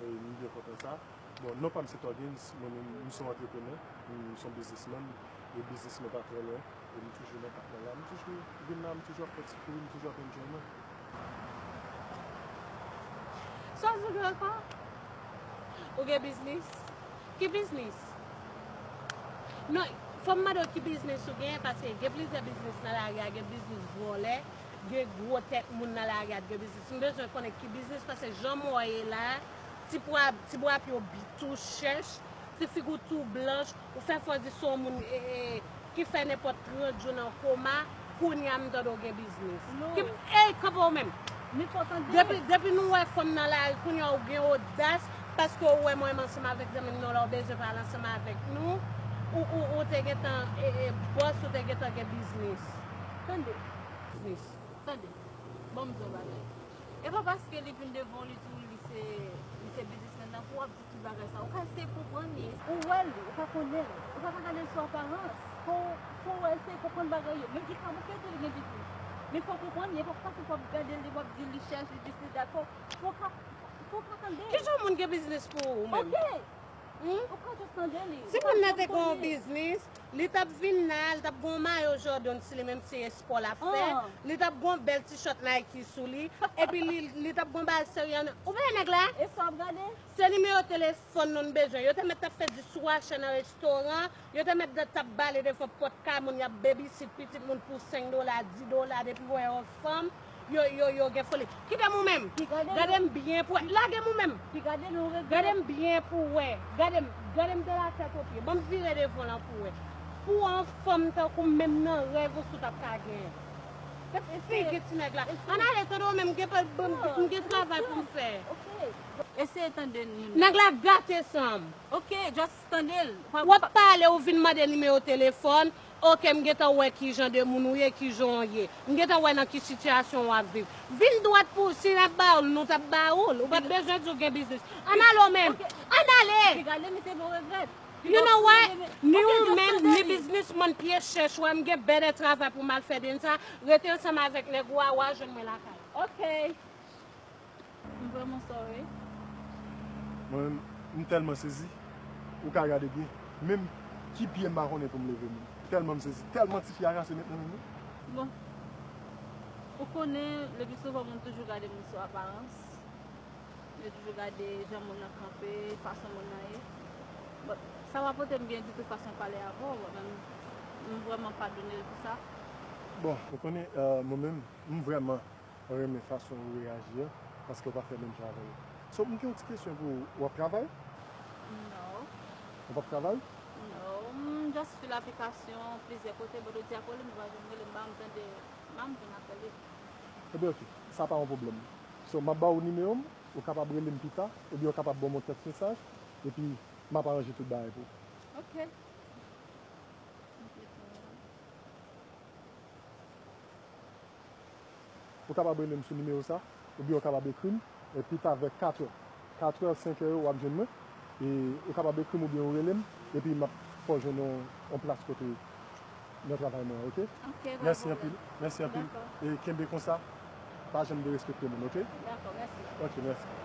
M byen kontan sa. Bon, non pa m se Tògins, mwen menm m se yon antreprenè, m se yon biznismann, e biznis mwen pa trè lwen, e m toujou nan kafè la. M toujou vin la, m toujou ap fè ti kouri, m toujou ap enjoy mwen. Sa vle di Grandpa, ou gen biznis? Ki biznis? Non, fò m mande w ki biznis ou gen, paske gen plizyè biznis nan lari a, gen biznis vòlè, gen gro tèt moun nan lari a t gen biznis m bezwen konnen ki biznis pase jan m wè e la ti pwa ti bwa pye w bi tou chèch ti fig ou tou blanch ou fè fò di son moun e e ki fè nenpòt 30 jou nan koma kounya m tande w gen biznis ki ey kanpe w menm Miko tande depi depi nou wè fanm nan lari kounya w gen odas paske w wè m wè m ansanm avèk zanmi m nan la w bezwen pale ansanm avèk nou ou ou ou te gentan e e bòs ou te gentan gen biznis tande. tris. Tande, ban m di yon bagay. E pa paske li vin devan w li di w li se li se biznismèn nan pou w ap di tout bagay sa a. Ou ka eseye konprann li. Ou wè l, ou pa konnen l. Ou pa ka gade l sou aparans. Fò w, fò w eseye konprann bagay yo. Men Vikram, ou kite l gen biznis. Men fò w konprann li. E pa paske w ap gade l, li wap di l li chèch, li dis li dat. Fò w ka, fò w ka tande l. Ki jan moun gen biznis pou ou menm? Ok! Si moun nan te gon biznis, li t ap vin la, li t ap gon mayo Jordan sou li menm si se espò l ap fè, li t ap gon bèl tishòt Nike sou li, epi li t ap gon bagay serye nan. Ou veye nèg la? Se nimewo telefòn nou n bezwen. Yo te mèt t ap fè di swachè nan restoran. Yo te mèt dèt tap bale defon pòt kay moun yap babysit pitit moun pou 5 dola 10 dola depi wè yon fanm yo yo yo gen foli kitem ou menm gadem byen pou wè lagem ou menm gadem byen pou wè gadem gadem de la tèt o pye banm vire devan lan pou wè pou yon fanm tankoum menm nan rèv ou sou tap ka genyen gad figi ti nèg la ann ale tande ou menm m gen travay poum fè. Eseye tande nèg la gate sanm. Wap pale ou vin mande nimewo telefòn, ok m gentan wè kijan de moun ou ye, kijan w ye. M gentan wè nan ki sitiyasyon wap viv. Vin dwat pou si nap ba ou l nou tap ba ou l, ou pat bezwen di ou gen biznis. Ann ale w menm, ann ale! You know what, ni ou menm ni biznismann pye chèch ou a m gen bèdè travay pou m al fè dnsa, rete ansanm avèk nèg ou a, wa jwenn mwen lakay. M vreman sorry. Mwen menm m telman sezi ou ka gade byen menm ki pye m pa konnen poum leve menm telman m sezi telman tifi a rase met nan menm li. Bon ou konnen le pi souvan moun toujou gade moun sou aparans yo toujou gade jan moun nan kanpe fason moun nan ye but sa pa pote m byen ditou fason pale avè w menm m vreman padone l pou sa. Bon ou konnen mwen menm m vreman Mwen renmen fason ou reyaji an paske ou pa fè menm jan avèm. So m gen yon ti kesyon pou ou, ou ap travay? No. Ou pap travay? No, m just fil aplikasyon plizyè kote but ou di apre li m va vin rele m ba m tande ba m vin apre li. Ebyen ok, sa pa yon pwoblèm. So m ap ba ou nimewo m, ou kapab rele m pita oubyen ou kapab ban m yon tèks mesaj epi m ap aranje tout bagay pou ou. Ok. Ou kapab rele m sou nimewo sa oubyen ou kapab ekri m pi ta vè katrè. Katrè, senkè yo w ap jwenn mwen. E ou kapab ekri m oubyen ou rele m epi m ap fè w jwenn yon plas kote nan travay mwen an ok. Ok, pa gen pwoblèm. Mèsi anpil. E kenbe konsa, pa janm derespekte moun ok. Dakò, mèsi. Ok, mèsi.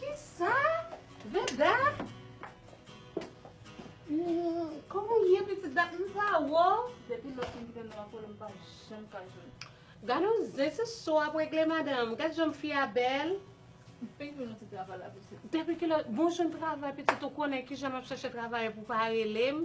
Kisa? Veda? Koman ou ye pitit dat m pa wè w? Depi lè w fin kite nou an kole m pa janm ka jwenn ou. Gade yon zen se sa w ap regle madanm. Gade jan fi a bèl. M fin jwenn yon ti travay la pitit. Depi kilè? Bon jwenn travay pitit ou konnen kijan m ap chèche travay pou pa rele m.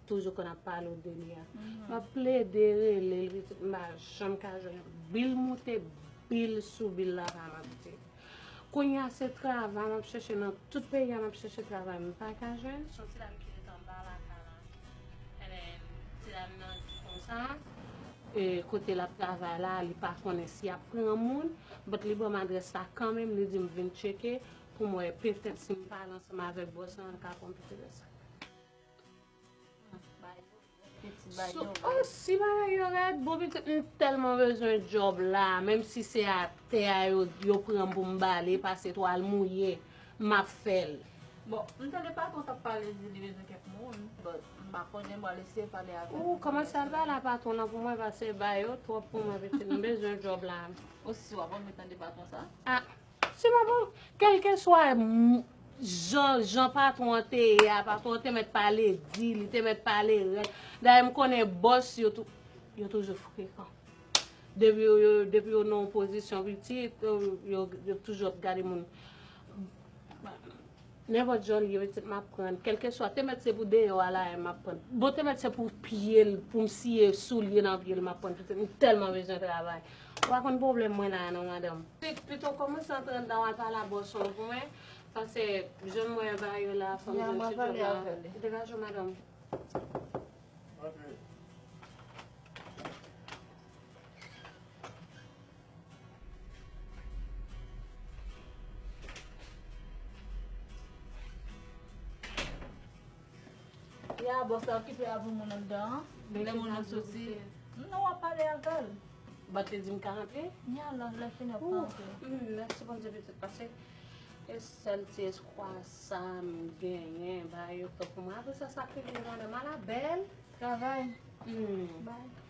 Toujou konn ap pale w de li a. Map plede rele l pitit m pa janm ka jwenn l. Bil moute, bil sou bil la pa manke. Kounye a se travay map chèche nan tout peyi a map chèche travay m pa ka jwenn. Son ti dam ki ret anba lakay la. Ebyen ti dam nan di konsa kote lap travay la li pa konnen si yap pran moun but li banm adrès la kanmenm li dim vin tcheke poum wè petèt sim pale ansanm avèk bòs lan l ka pranm pitit l. Oh si bagay yo rèd, bon pitit m tèlman bezwen job la, menm si se a tè a yo pranm pou m bale, pase twal mouye, m ap fèl. Bon, m tande patwon t ap pale di li bezwen kèk moun, but m pa konnen, m pral eseye pale avè l. Ou kòmanse al pale a patwon nan pou mwen pase bay yo twòp pou mwen pitit m bezwen job la. Ou si w ap anvi tande patwon sa? Ah. Se pa pou kèlkeswa jan jan patwon an te ye a, patwon an te mèt pale di, li te mèt pale rèd. Dayè m konnen bòs yo tou, yo toujou frekan. Depi yo yo, depi yo nan yon pozisyon pitit, yo yo toujou ap gade moun. Nenpòt jan li ye mèt se m ap pran l. Kèlkeswa, te mèt se pou deyò a la a m ap pran l. Bon te mèt se pou pye l, pou m siye soulye nan pye l m ap pran l pitit. M tèlman bezwen travay. Ou pa konn pwoblèm mwen la a non madanm. Pito kòmanse antre anndan w al pale ak bòs ou an pou mwen. Pase jan mwen an ba yo la a fò m jwenn ti djòb la a. Degaje w madanm. Antre. Ya bòs la okipe avèk moun anndan an. Lè moun nan soti. Non wap pale avèl. Bat li di m ka rantre? Ni ala lè fini wap ka rantre. Mèsi Bondye li tout pase. E sèl ti eskwa sa m genyen ba yo kèk mwa. Aprè sa sa fini jounen m ala bèl. Travay. Bay.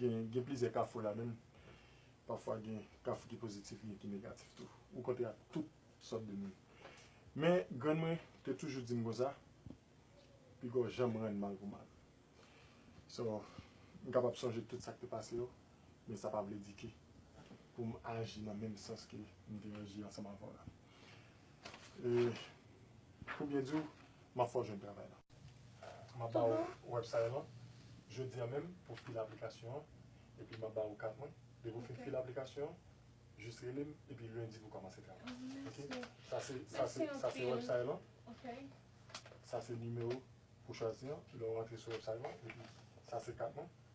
Gen plizyè kafou la menm. Pafwa gen kafou ki pozitif gen ki negatif tou. Ou kontre ak tout sòt de moun. Men grann mwen te toujou di m konsa, pigaw janm rann mal pou mal. So, m kapab sonje tout sa k te pase yo, men sa pa vle di ke pou m aji nan menm sans ke m te aji ansanm avè w la. Pou byen di w, m ap fè w jwenn travay la. M ap ba w website lan jodi an menm pou w file aplikasyon an epi m ap ba ou kat mwen. Depi ou fin file aplikasyon an, jis rele m epi lendi pou w kòmanse travay. Sa se website lan. Sa se nimewo pou w chwazi an lè w rantre sou website lan epi sa se kat mwen.